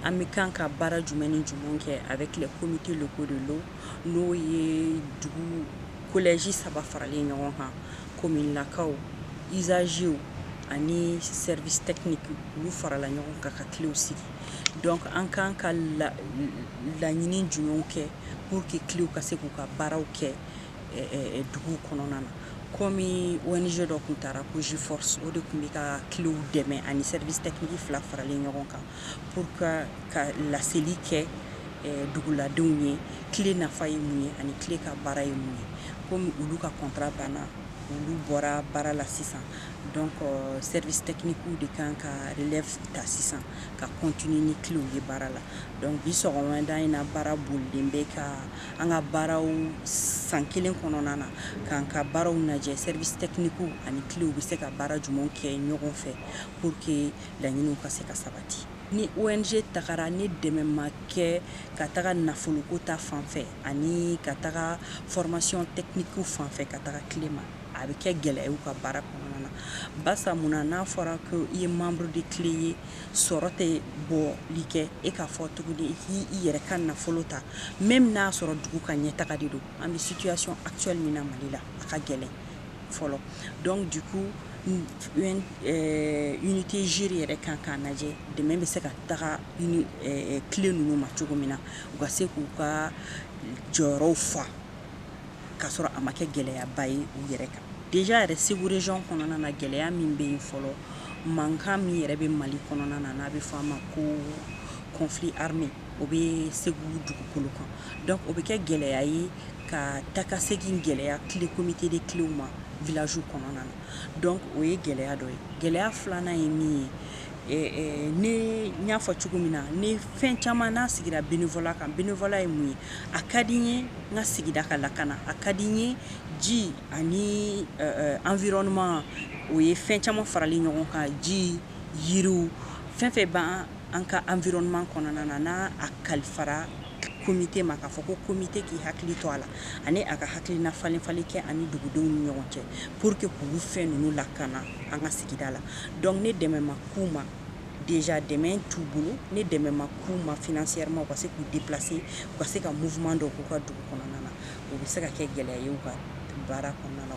An bɛ kan ka baara jumɛn ni jumɛn kɛ avec les comités locaux de l'eau n'o ye dugu kolɛji saba faralen ɲɔgɔn kan commune lakaw usagers ani service technique olu farala ɲɔgɔn kan ka cléw sigi donc an kan ka laɲini jumɛnw kɛ pour que cléw ka se k'u ka baaraw kɛ dugu kɔnɔna na komi ONG dɔ kun taara ko G-Force o de kun bɛ ka cléw dɛmɛ ani service technique fila faralen ɲɔgɔn kan pour que ka laseli kɛ duguladenw ye clé nafa ye mun ye ani clé ka baara ye mun ye komi olu ka contrat banna olu bɔra baara la sisan donc service technique de kan ka relève ta sisan ka continuer ni cléw ye baara la donc bi sɔgɔmada in na baara bolilen bɛ ka an ka baaraw san kelen kɔnɔna na k'an ka baaraw lajɛ service technique ani cléw bɛ se ka baara jumɛnw kɛ ɲɔgɔn fɛ pour que laɲiniw ka se ka sabati ni ONG tagara ni dɛmɛ ma kɛ ka taga nafoloko ta fanfɛ ani ka taga formation technique fanfɛ ka taga clé ma a bɛ kɛ gɛlɛya ye u ka baara kɔnɔna na barisa mun na n'a fɔra ko i ye membre de clé ye sɔrɔ tɛ bɔli kɛ e k'a fɔ tuguni i yɛrɛ ka nafolo ta même n'a sɔrɔ dugu ka ɲɛtaga de don an bɛ situation actuelle min na Mali la a ka gɛlɛn fɔlɔ dɔnku du coup unité GIRE yɛrɛ kan k'a lajɛ dɛmɛ bɛ se ka taga clé ninnu ma cogo min na u ka se k'u ka jɔyɔrɔw fa k'a sɔrɔ a ma kɛ gɛlɛyaba ye u yɛrɛ kan déjà yɛrɛ Segu région kɔnɔna na gɛlɛya min bɛ yen fɔlɔ mankan min yɛrɛ bɛ Mali kɔnɔna na n'a bɛ fɔ a ma ko conflit armé o bɛ Segu dugukolo kan donc o bɛ kɛ gɛlɛya ye ka takasegin gɛlɛya clé comité de cléw ma village kɔnɔna na donc o ye gɛlɛya dɔ ye gɛlɛya filanan ye min ye ne y'a fɔ cogo min na ni fɛn caman n'a sigira bénévolat kan bénévolat ye mun ye a ka di n ye n ka sigida ka lakana a ka di n ye ji ani environnement o ye fɛn caman faralen ɲɔgɔn kan ji yiriw fɛn fɛn b'an ka environnement kɔnɔna na n'a a kalifara komite ma k'a fɔ ko komite k'i hakili to a la ani a ka hakilina falenli kɛ ani dugudenw ni ɲɔgɔn cɛ pour que k'olu fɛn ninnu lakana an ka sigida la Dɔnku ni dɛmɛ ma k'u ma déjà dɛmɛ t'u bolo ni dɛmɛ ma k'u ma financièrement u ka se k'u déplacer u ka se ka mouvement dɔ k'u ka dugu kɔnɔna na o bɛ se ka kɛ gɛlɛya ye u ka baara kɔnɔna